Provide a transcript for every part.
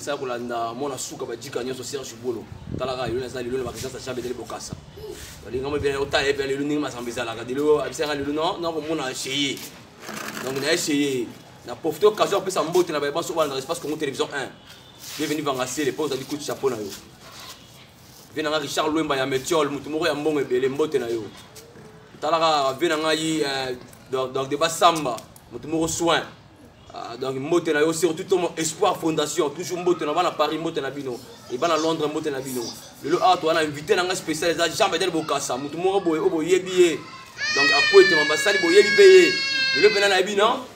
esala kolanda mwana suka bajika nyonso serge bolo talaka lelo naza lelo na bakisasa jambe etali bokasa balinga mo ebela otala ebela lelo ndenge masamba ezalaka lelo abisaka lelo nakomona cheye donc na echeye na profite occasion apesa mbote na baye banso bana na espace congo télévision 1 bienvenu vangasele mpo ozali kutu chapeau na yo vie na ngai richard lwemba ya metiole motu moko ya mbongo ebele mbote na yo talaka vie na ngai eh, donc de basamba motu moko soin ah, donc mbote na yo surtout to espoir fondation toujours mbote na bana paris mbote na bino ebana londres mbote na bino lelo awa toza na invité na ngai spécial eza jean bedel bokasa motu moko boye oyo boyebi ye donc akwete mabasali boyebi mpe ye lelo mpena nayebi non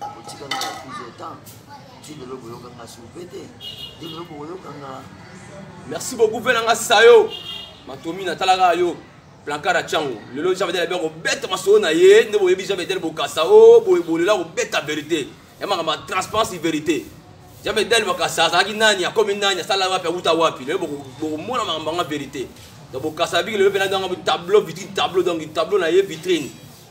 otika nga na prise de temps ti lelo boyoka nga soupe te ti lelo bokoyoka nga merci beaucoup mpe na nga sayo matomi natalaka yo plankard atyango lelo jean vedel abia kobeta masolo na ye nde boyebi jean vedel bokasa o boye bolela kobeta verité ya makambo ya transparence verité jean vedel bokasa azalaki nani akomi nani asala wapi awuta wapi lelo bokomona makambo yanga verité donc bokasa abiki lelo mpe na danga tableau vitrine tableau donc tableau na ye vitrine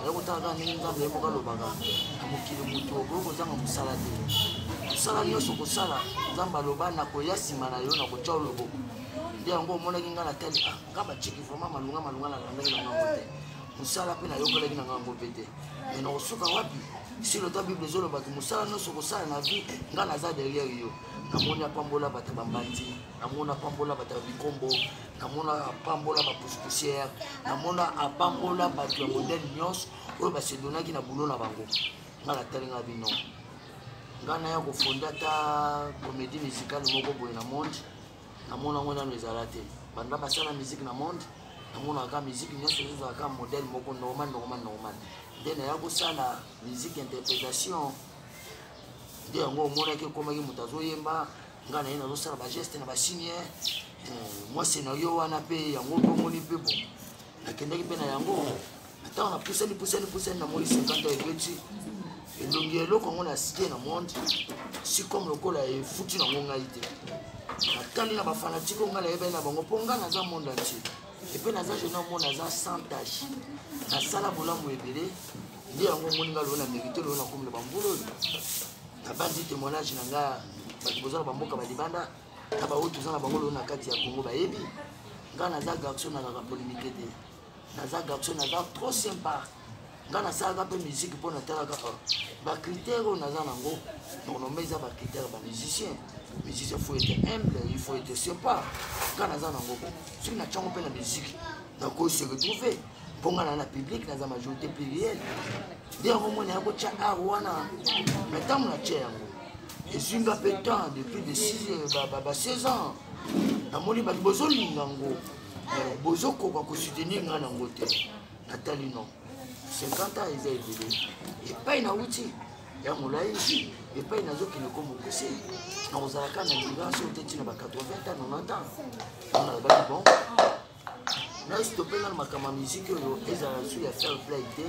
oya kotala kaka ndenge nzambe yemoko alobaka na mokili moto okoki kozanga mosala te mosala nyonso kosala nzambe aloba nakoya nsima na yo nakotya oloboko nde yango omonaki ngai natali ah, nga baciki vraimen malunga malunga nalandaki na ngango te mosala mpe nayokelaki na ngango mpe te me nakosuka wapi si lota bible ezolobaki mosala nyonso kosala na vie ngai naza derrière yo namoni apambola bato bambandi namoni apambola bato ya bikombo namona apambola bapusipusiere namona apambola bato ya modele nyonso oyo basedonaki na bulo na bango ngai natali ngai bino ngai naya kofonda ata comédie musicale moko boye na monde namona yango nano ezala te banda basala musique na monde namonaka musique nyonso ezozalaka modele moko normal normal normal nde naya kosala musique interprétation nde yango omonaki ekomaki moto azoyemba nga na ye nazosala bageste na basini eh, mwasi na yo wana mpe yango mpe omoni mpe bo nakendaki mpe na yango ntango napusani pusani pusani namoni 50 ebeti elongi eloko yango nasike na monde si comme lokola efuti nango ngai te natali na bafanatike o ngai nayebani na bango mpo ngai naza monde antie epe naza jeune omona naza sans tache nasala bolamu ebele nde yango omoni ngai loyo na merite loyo nakomela bambula oyo nabanzi témoignage na nga bato boza na bamboka balibanda na baoyo toza na bango loo na kati ya congo bayebi ngai naza garçon nalaka polémike te naza garçon naza trop sympa ngai nasalaka mpe musike mpo natalaka oh, bacritère oyo naza nango normalement eza bacritère bamusicien musicien faut ete humble il faut ete sympa ngai naza nango soki natyango mpe na musike nakoki se retrouver mpo nga na na publike naza majorité pluriel nde yango mwana ya kotya ar wana na ntango natya yango ezwi nga mpe temps depuis de 16 ans namoni bato bozolinga yango bozokoka kosoutenir nga nango te natali non 50 ans eza ebele epai nauti ya molai epai nazokende ko mokuse nakozalaka na libranso te ntina ba 80 ans 90 ans nalobaki bon nastope nano makambo ya miziki oyo ezala su ya fair play te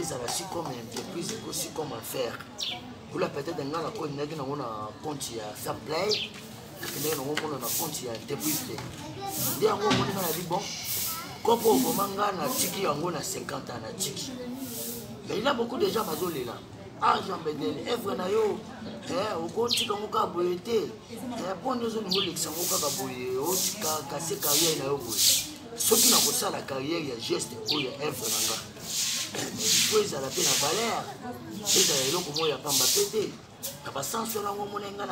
ezala si comme entreprise eko si comme affaire kula peut-être ngai nakondaki nango na compte ya fair play nakendaki nango mona na compte ya entreprise te nde yango omoni ngai nabi bon kopo oboma ngai natiki yango na 50 ans natiki mais il a beaucoup de gens bazolela ah jean bedel evre na yo okotika yango kaka boye te Eh, mpo nde ozongi olekisa ngo kaka boye otika kase carrière na yo boye soki nakosala carrière ya geste oyo ya evre na nga po ezala mpe na valeur ezala eloko moko ya pamba mpe te na basanso wana ngo omona nga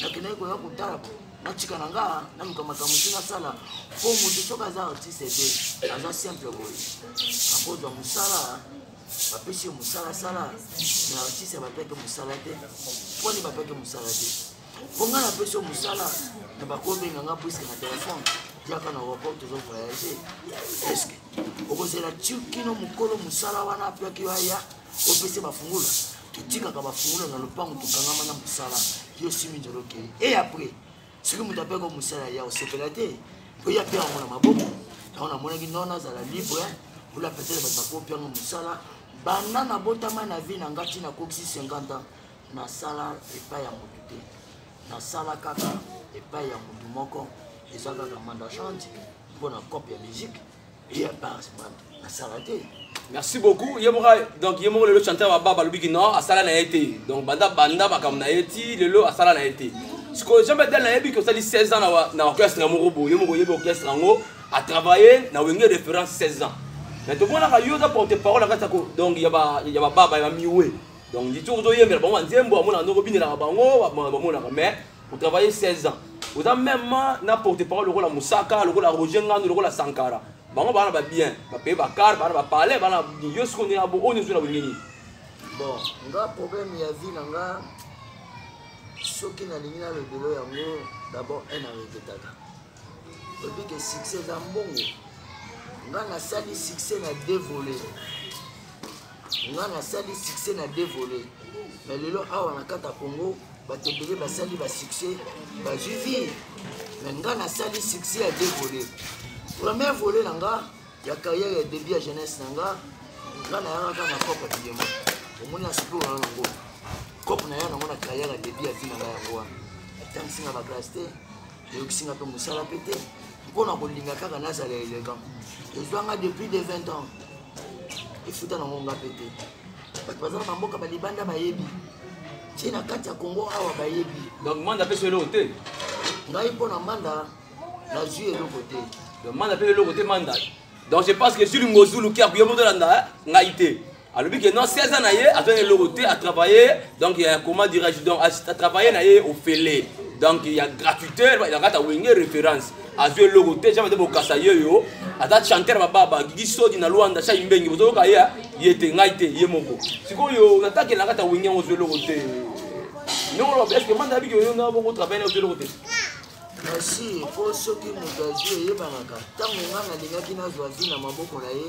nakendaki koya kotala po natika na nga naluka makambo ti nasala mpo moto soki aza artiste te aza simple boye akozwa mosala bapesi yo mosala sala na artiste bapeke mosala te mponi bapeke mosala te mpo ngai napesi yo mosala na bakobenga ngai puiske na telefone yaka na aéroport tozo voyage eske okozela kino mokolo mosala wana apiaki yo aya opesi bafungula totikaka bafungula na lopango tokangama na mosala yo simi nzolo okei e après soki moto ape ko mosala ya osepela te mpo ye ape yango na maboko yango namonaki non nazala libre ola petele bato bakopi yango mosala banda nabotama na vie na ngai ntina akokisi 50 ans nasala epai ya motu te nasala kaka epai ya motu moko eza kaka mandachante mpo na cope ya musique ya base asala te merci beaucoup ye moko donc ye moko lelo chanteur baba balobi ki non asala na ye te donc banda banda makambo na ye ti lelo asala na ye te sikoyo jean bedel nayebi ke osali 16 ans na orchestre ya moko boye moko oyebi orchestre yango atravaille na wenge référence 16 ans mais tomonaka yo oza porte parole na kati ya donc ya bababa ya bamiwe donc nditi ozoyembela bango banzembo amonaka ndoko binelaka bango bamonaka mais otravaille 16 ans oza meme na porte parole lokola mosaka lokola roger ngando lokola sankara bango bana ba bien bapaye bakar bana bapale bana yo siko ndenge abo oyo nyonso na bolingi nini bon nga problème ya vie na nga soki nalingi na lobelo yango d'abord un areketaka Obike succès eza mbongo. Nga nasali succès na deux volets. Nga nasali succès na deux volets. Mais lelo awa na kata Congo bato ebele basali ba succès bazwi vie. Mais nga nasali succès ya deux volets. Premier volet na nga ya carrière ya début ya jeunesse na nga nga nayangaka na cope ya bilemo. Omoni na sikoyo na yango. Cope na ya nango na carrière ya début ya vie na nga yango wana. Atangisi nga ba classe te. eyokisi nga mpe mosala mpe te mpo na kolinga kaka nazala elegant ezwa nga depuis de 20 ans efuta nango nga mpe te bato baza na bamboka balibanda bayebi ti na kati ya kongo awa bayebi donc manda mpe so eloko te ngai mpo na manda nazwi eloko te donc manda mpe eloko te manda donc je pense que zulu ngozulu kiaku yo moto olanda ngai te alobi que non 16 ans na ye azwaki eloko te a travailler donc ya comment dirais-je donc a travailler na ye ofele donc ya gratuité elakata wenge référence azwi eloko te jambe te bokasa ye yo aza chanteur bababa gigi sodi na luanda shai mbengi bozoyoka ye ye te ngai te ye moko sikoyo nataki elakata wenge yango ozwi eloko te ndongoloba est ce que manda abiki oyo nga boko travaille na ozwi eloko te kasi mpo soki moto azwi eyebangaka ntango nga nalingaki nazwa zwi na maboko na ye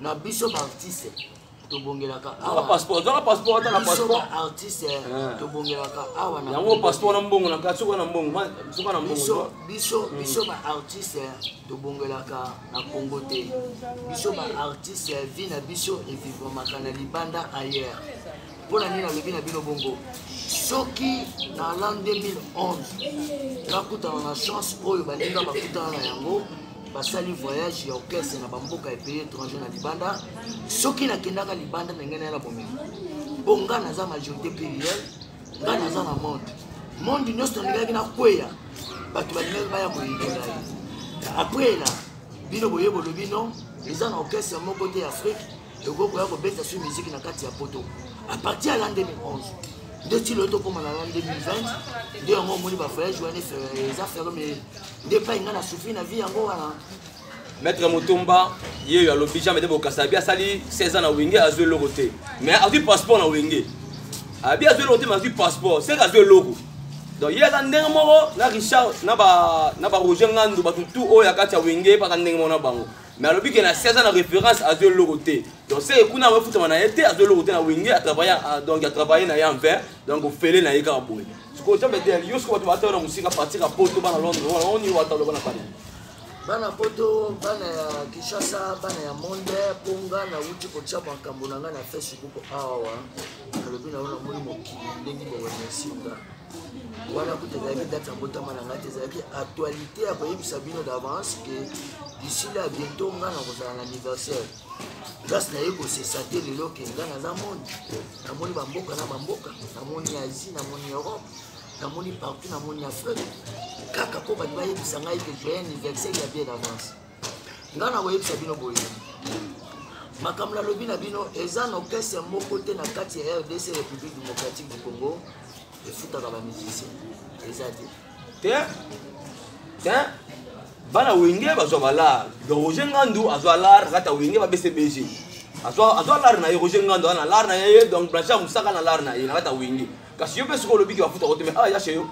na biso baartiste tobongelaka awa passeport zaka passeport ata na passeport artiste eh, eh. tobongelaka awa na yango passeport na mbongo na kati soka na mbongo soka na mbongo biso hmm. biso ba artiste eh, tobongelaka na Congo te biso ba artiste vie na biso evivamaka na libanda ailleurs mpo na nini nalobi na bino bongo soki na l'an 2011 nakutana na chance oyo baninga bakutana na yango basali voyage ya orchestre na bamboka epaye étranger na libanda soki nakendaka libanda ndenge naye na bomema mpo nga naza majorité pluriel nga naza na monde monde nyonso nalingaki nakweya bato balingaki baya koyinela ye après na bino boye bolobi no eza na orchestre moko te ya afrique tokoki koya kobeta su miziki na kati ya poto a partir ya l'an 2011 nde ti loyo tokóma na l'an 2020 nde yango omoni bavoyage wana eza fero me nde epai ngai na sufi na vie yango wana maître motomba ye oyo alobi jean mede bokasa abi asali 16 ans na wenge azwi eloko te mais azwi passeport na wenge abi azwi eloko te mais azwi passeport seke azwi eloko donc ye aza ndenge moko na richard na baroger ngandu bato tu oyo ya kati ya wenge baza ndenge moko na bango mais alobi ke na si aza na référence azwi eloko te donc seke kuna yango efutama na ye te azwi eloko te na wenge atravaille ah, donc atravaille na ye en vain donc ofele na ye kaka boye sikoyo jambe te yo sikoyo bato batala na mosika partir ya poto bana londre wana oni wata oloba na bana bana poto bana ya kinshasa bana ya monde mpo nga nauti kotya makambo na ngai na facebook awa nalobi na yo namoni mokili ndenge boremercie nga wana kuta ezalaki date ya mbotama na ngai te ezalaki actualité ya koyebisa bino d'avance ke isili ya bientôt ngai nakozala na anniversaire place naye kosesa te lelo ke ngai naza moni namoni bamboka na bamboka namoni asie namoni europe namoni partout namoni afrique kaka mpo bato bayebisa ngai ke joye anniversaire ya bien d'avance nga na koyebisa bino boye makambo nalobi na bino eza na orchestre moko te na kati ya rdc république démocratique du congo efutaka bamusicien eza te te te bana wenge bazwa balar don roger ngandu azwa lar kati ya wenge babese bg azwa lar na ye roger ngandu ana lar na ye donc blanchard mosaka na lar na ye na kati ya wenge kasi yo mpe soki olobiki bafutaka te me awa ah, ya chez yo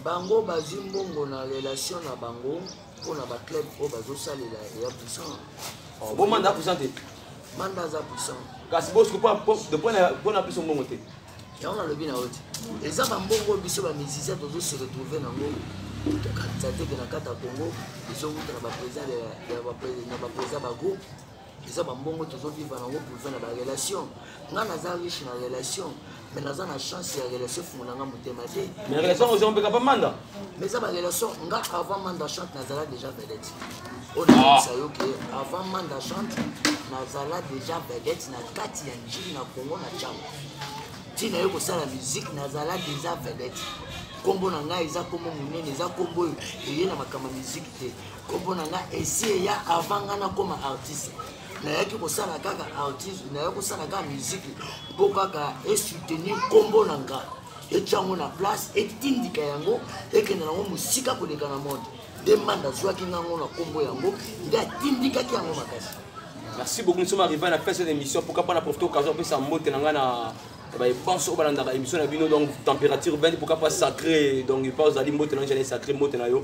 bango bazwi mbongo na relation na bango mpo na baclub oyo bazosalela eya puissant oh, bo manda puissant te manda aza puissant kasi bosiko mpo na biso mbongo te yango nalobi na yo te eza bambongo biso bamusicien tozose retrouve nango tokanisa te ke na kati ya congo ezowuta na baprésident na baprésident bagroupe eza bambongo tozovivre yango pouza na barelation ngai naza riche na relation mais naza na chance ya relation fungola nga motema te mais relation ozongo mpeka pa manda mais eza barelation nga avant manda chante nazala déjà vedette oyo nakoyebisa yo ke avant manda chante nazala déjà vedette na kati ya njili na congo na cango ntina yo kosala musike nazala déjà vedette nkombo na ngai eza nkombo monene eza nkombo oyo eye na makambo ya miziki te kombo na nga esi eya avant nga nakoma artiste nayaki kosala kaka artiste nayaki kosala kaka miziki mpo kaka esoutenir kombo na nga etya yango na place etindika yango ekende nango mosika koleka na monde nde manda azwaki ngango na kombo yango nde atindikaki yango makasi merci beaucoup nous sommes arrivés à la fin de cette émission pourquoi pas na profiter occasion apesa mbote na ngai na baye banso oyo balandaka émission na bino donc température 20 pourquoi pas sacré donc epa ozali mbote na ngai ezali sacré mbote na yo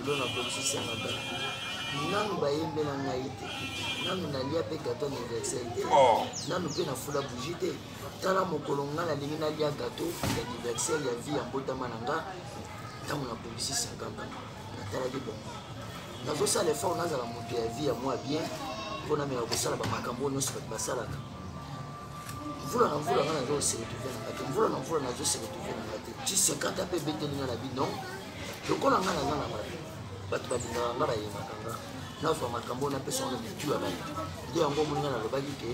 lelo nakoki senga bato nanu bayembela ngai te nanu nalia mpe gato anniversaire te oh. nanu mpe nafula bougi te tala mokolo ngai nalingi nalia gato ya anniversaire ya vie ya mbotama na nga ntango nakobisi 50 ans natalaki bongo nazosala effort nazala moto ya vie ya mwa bien mpo namela kosala bamakambo oyo nyonso bato basalaka mvula na mvula ngai nazoseretrouve na nga te mvula na mvula nazoseretrouve na nga te ti 50 mpe ebeteli nga na bino lokola nga naza na bato bato babingaka nga bayebaka nga nazwa makambo oyo napesa wana bitu ya bato nde yango omoni nga nalobaki ke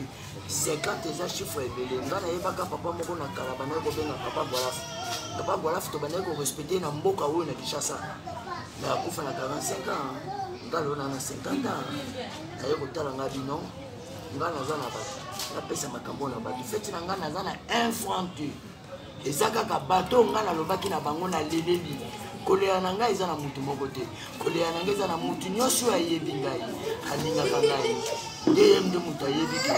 50 eza chiffre ebele nga nayebaka papa moko na kala bandaki kobenga papa gwalaf papa gwalaf to bandaki korespecte na mboka oyo na kinshasa na akufa na 45 ans nga lelo na na 50 ans naye kotala nga bino nga naza na bato napesa makambo na bato feti na nga naza na un franc te eza kaka bato oyo ngai nalobaki na bango na leleli kolela na ngai eza na motu moko te kolela na ngai eza na motu nyonso oyo ayebi ngai alingaka ngai nde ye nde moto ayebi ke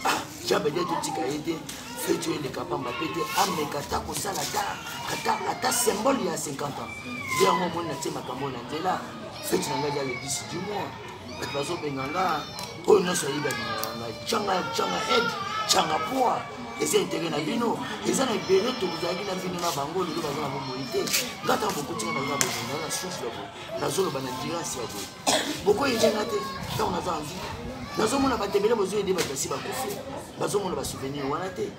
ah, jabede totika ye te fetu eleka pamba mpe te ameka ata kosala ata symbole ya 50 ans nde yango omoni natie makambo na nzela feti na ngai eza le 10 du mois bato bazobenga nga oyo nyonso ayebi abengaka nga canga canga ed canga poa eza etere na bino eza na ebele tozalaki na bino na bango lelo baza na bomoi te nga ntango bokotinga naza bozinga na susu ya boye nazoloba na dirasi ya boye bokoyede nga te ntango naza anzi nazomona bato ebele bozoyede bato basi bakufi bazomona basouvenir wana te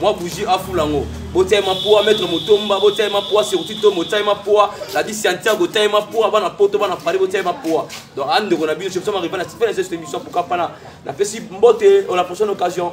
mwa bougie afula yango botia ye mapoa maître motomba botia ye mapoa surtout to botia ye mapoa ladi santiago botia ye mapoa bana poto bana paris botia ye mapoa donc a ndeko na bino soki soma rival na sifana sese émission pourquoi pas na napesi mbote on la prochaine occasion